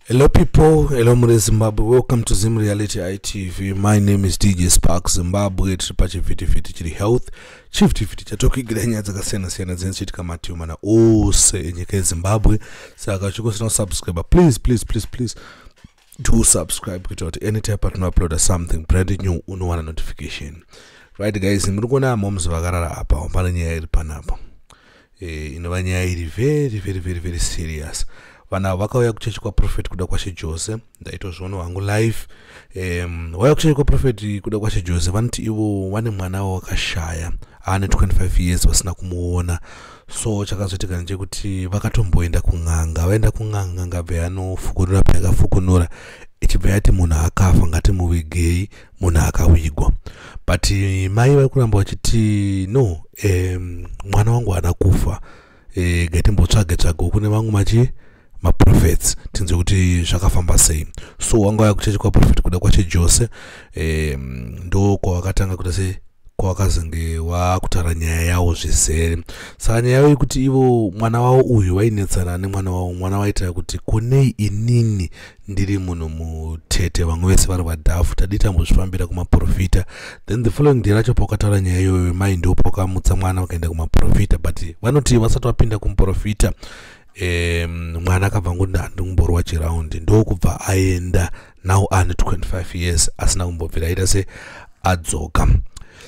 Hello people, hello mure Zimbabwe, welcome to Zim Reality ITV. My name is DJ Spark Zimbabwe, tiri pachivhitivhiti chiri health. Chivhitivhiti chatokuigira nyaya dzakasiyana siyana dzinochiitika mativi mana ose enyika yeZimbabwe. Saka chikosina kusubscribe, please, please, please, please do subscribe kuitira kuti anytime patinouploada something brand new unowana notification. Right guys, muri kuona moms vakarara apa, pane nyaya iri panapa. Eh, inova nyaya iri very very very very serious vanhu avo vakauya kuchechi kwaprofet kuda kwashe jose ndaitozviona wangu live um, wauya kuchechi kwaprofet kuda kwashe jose vanoti ivo vane mwana wawakashaya aane 25 years vasina kumuona so chakazoitika ndechekuti vakatomboenda kun'anga vaenda kun'anga n'anga bve yanofukunura payakafukunura ichibva yati munhu akafa ngatimuvigei munhu akavigwa but eh, mai vari kuramba vachiti no um, mwana wangu haana kufa e, eh, gatimbotsvage tsvage kune vamwe machi maprofets tinzwe kuti zvakafamba sei so wanga waya kuchechi kwaprofet kuda kwache jose e, ndo kwavakatanga kuita se kwavakazenge wakutaura nyaya yawo zvizere saka nyaya yavo yekuti ivo mwana wavo uyu vainetsana nemwana wavo mwana waitaura kuti konei inini ndiri munhu mutete vamwe vese vari vadhafu tadii tambozvifambira kumaprofita then the following day racho paukataura nyaya iyoyo vemai ndo paukamutsa mwana vakaenda kumaprofita but vanoti vasati vapinda kumuprofita um, mwana akabva ngoti handingumborwa chiraundi ndokubva aenda now ane 25 years asina kumbobvira aita se adzoka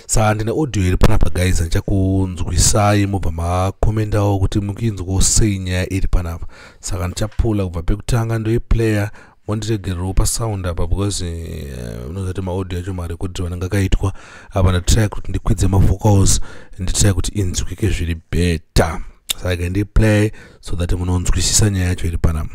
saa ndine audio iri panapa guys ndichakunzwisai mobva makomendawo kuti mukuinzwawo sei nyaya iri panapa saka ndichapula kubva pekutanga ndoiplayer mondiregererewo pasound apa because eh, unozati uh, maaudio acho marekodhiro anenge akaitwa apa ndatry kuti ndikwidze mavocals nditry kuti inzwike zviri better saka ndiplay so that munonzwisisa nyaya yacho iri panapa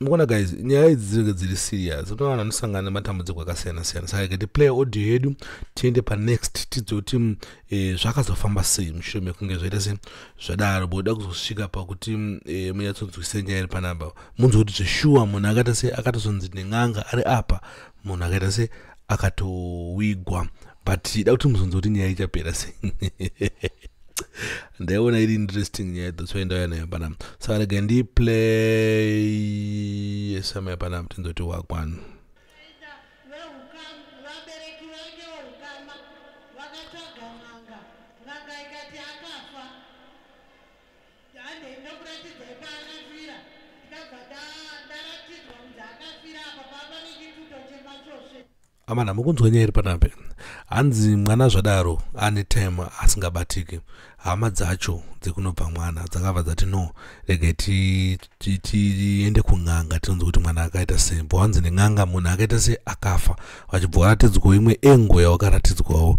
mukuona guys nyaya idzi dzinenge dziri serious unoona vanhu anosangana nematambudziko akasiyana siyana saka ikati play audio yedu tiende panext tidzoti mm, e, zvakazofamba sei mushure mekunge zvaita se zvadaro boda kuzosvika pakuti mm, e, eh, munyatsonzwisei nyaya iri panapa munzwa kuti zveshuwa munhu akata se akatozonzi nen'anga ari apa munhu akaita se akatowigwa but da kuti muzonza kuti nyaya ichapera se ndaiona iri interesting nyaya that's why ndauya nayo panapa saka rega ndiplay esamaya panapa tinzoti wakwanu Handei ndokuratidzai paakafira ndikabva ndaratidzwa kuti akafira apa papa nechituto chemachosve amana mukunzwa nyaya iri panape hanzi mwana zvadaro ane time asingabatiki hama dzacho dzekunobva mwana dzakabva dzati no rege tiende kun'anga tinonzi kuti mwana akaita sei bho hanzi nen'anga munhu akaita sei akafa vachibva waratidzwawo imwe engo yawakaratidzwawo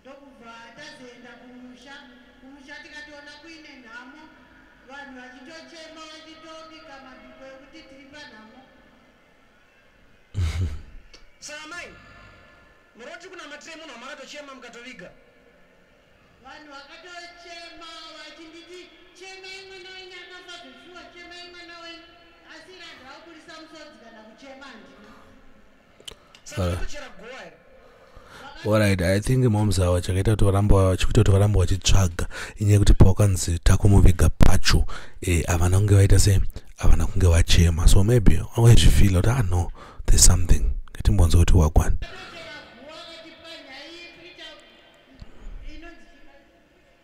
ndokubva tazoenda kumusha kumusha tikatoona kuine nhamo vanhu vachitochema vachitobika mabiko ekuti tiri panhamo saa mai muroti kunamatirei munhu wamakatochema mukatoviga vanhu vakatochema vachinditi chemai mwana wenyu akafa zvefiwa chemai mwana wenyu asi irandaakurisa musodzi kana kuchema ndina orit i think moms awa chakaita kuti varamba chikuita kuti varamba vachitsvaga inyaya yekuti pawakanzi takumuviga pacho eh, havana kunge vaita se havana kunge vachema so maybe waizvifila kuti ah no there's something ngatimbonzwa kuti wagwani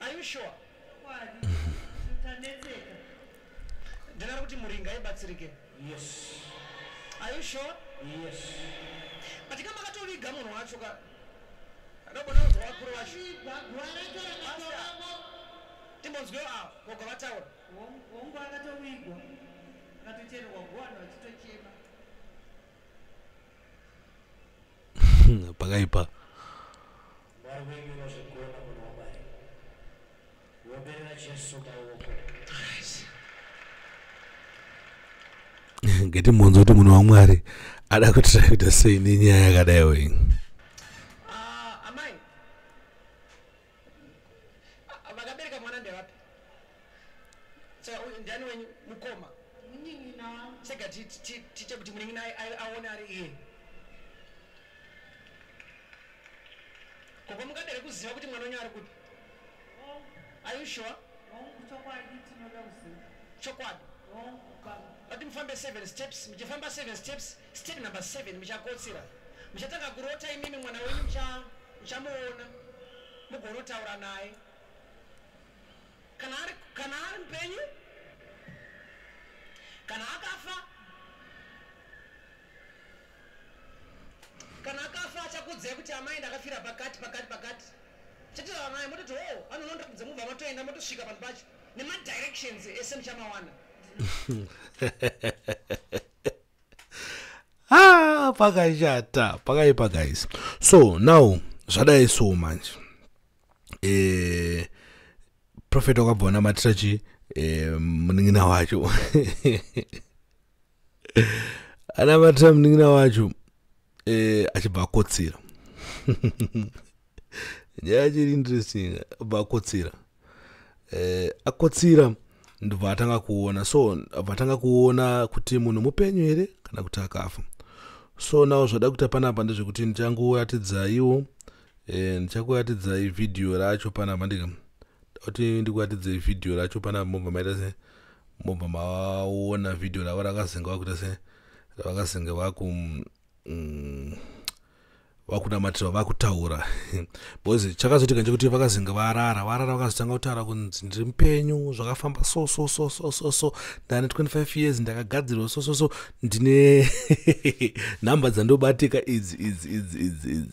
Are you sure? Ndinoda kuti muringa ibatsirike. Yes. Are you sure? Yes. But kama katoviga munhu wacho ka ndobona kuti wakuru wacho. Timbonzwe awo gogo vataura. Hongu akatovigwa akatochererwa guwana vachitochema. pakaipa ngati mhonzo kuti munhu wamwari ada kutirakuita sei nenyaya yakadaiwo ini Ah, vakabereka mwana ndevapi saka uyu ndiani wenyu mukoma munin'ina wangu sega ti- ti- ti- tiite kuti munin'ina ai- ai- aone ari iye gogo mungadere kuziva kuti mwana wenyu ari kupi hongu are you sure hongu chokwadi tinoda kuziva chokwadi hongu baba vati mufambe seven steps muchifamba seven steps Step number seven, muchakotsira. Muchatanga kurota imimi mwana wenyu mucha- muchamuona mugonotaura naye kana ari kana ari mupenyu kana akafa kana akafa achakudzai kuti amai ndakafira pakati pakati pakati chatotaura naye mototi o anonondakudza mubva matoenda motosvika panhu pacho nemadirections ese muchamawana ah, pakashata pakaipa guys so now zvadai so manje eh, profet wakabva wanamatira chi eh, munin'ina wacho anamatira munin'ina wacho eh, achibva akotsira nyaya chiri interesting abva akotsira eh, akotsira ndobva atanga kuona so abva atanga kuona kuti munhu mupenyu here kana kuti akafa so nawo zvada kuita panapa ndezvekuti ndichangoyatidzaiwo eh, ndichakuatidzai vhidhiyo racho panapa ndika kuti ndikuratidze vhidhiyo racho pana mobva maita se mobva maona vhidhiyo ravo rakazenga vakuita se ravakazenga vaku mm, vakunamatira vakutaura because chakazoitika ndechekuti vakazinga varara varara vakazotanga kutaura kunzi ndiri mupenyu zvakafamba so so so so so so ndane 25 years ndakagadzirwa so so so ndine nhamba dzandobatika idzi idzi idzi idzi idzi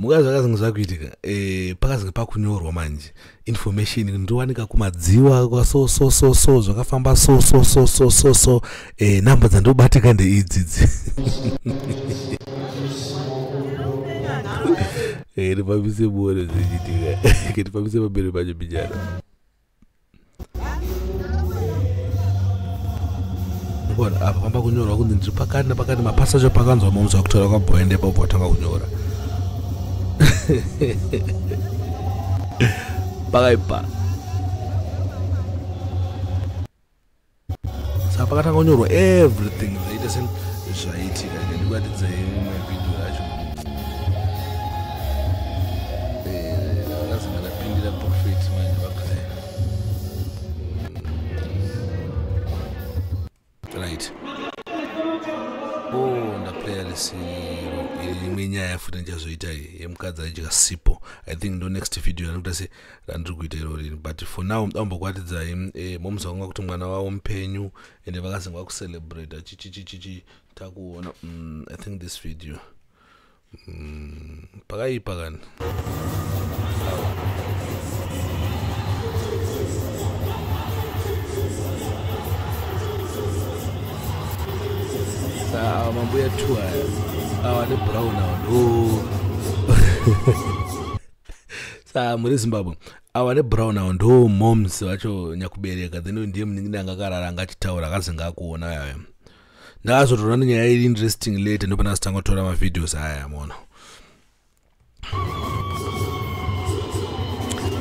muka zvakazenge zvakuitika eh, pakazenge pakunyorwa manje information ndowanika kumadziwa kwaso so so so zvakafamba so so so so so so eh, number dzandobatika ndeidzidzi eh, ndipambise buone zvichiitika ndipambise pamberi pacho bijana apa pamba kunyorwa kunzi ndiri pakati nepakati mapasaje pakanzwa momza kutaura kwabhoende papo watanga kunyora pakaipa saka pakatanga kunyorwa everything zvaita se zvaitika ndikuratidza imwe video yacho vakazanga eh, ndapindira profet manje vakuzai right oh ndaplaya risiro imwe nyaya futi ndichazoita yemukadzi aidya sipo i think ndo next video anokuta se randiri kuita irorini but for now ambokwatidzai um, eh, moms vanga kuti mwana wavo mupenyu and vakazenge vakucelebrata chichichichichi takuona um, i think this video um, pakaipa kana awa mambuya two aya awa nebrown awa no saa muri zimbabwe awa nebrown awo ndo moms vacho nyakubereka then ndiye muningi anga akarara anga achitaura akazinga akuona yaya ndakazotoona nenyaya iri interesting late ndopana zitanga kutora mavideos aya yamona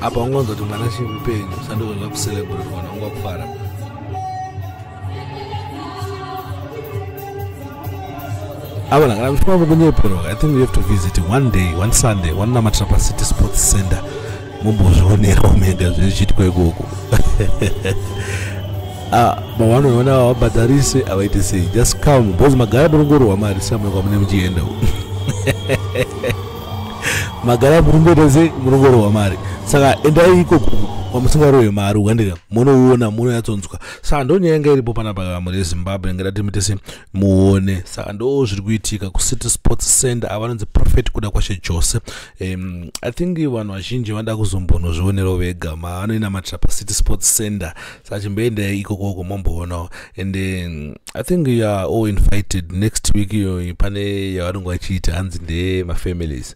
apa ungonzwa kuti mwana chimupenyu sandozoa kucelebrate kana ungakufara ava langa vachifamba mukunyeperwa i think we have to visit one day one sunday wanonamatira pacity sports center mumbozvionerawo mega zvichiitwa ikoko ah, mavanoona havabhadharise havaite sei just come bcause magara murongorwa mari samuka mune muchienda magara murimboita sei murongorwa mari saka endai ikoko kwamusingarohwe mari ukandiga munouona munoyatsonzwa saka ndonyaya inga iripo pana pakama rezimbabwe ingada timitese muone saka ndo zviri kuitika kucity sports center avanonzi prophet kuda kwashe jose um, i think vanhu vazhinji vanoda kuzombonozvionero vega maanoinamatira pacity sports center saka chimboenda ikokoko momboonawo and um, i think you are all invited next week iyoyi pane yavanonge vachiita hanzi ndeye mafamilies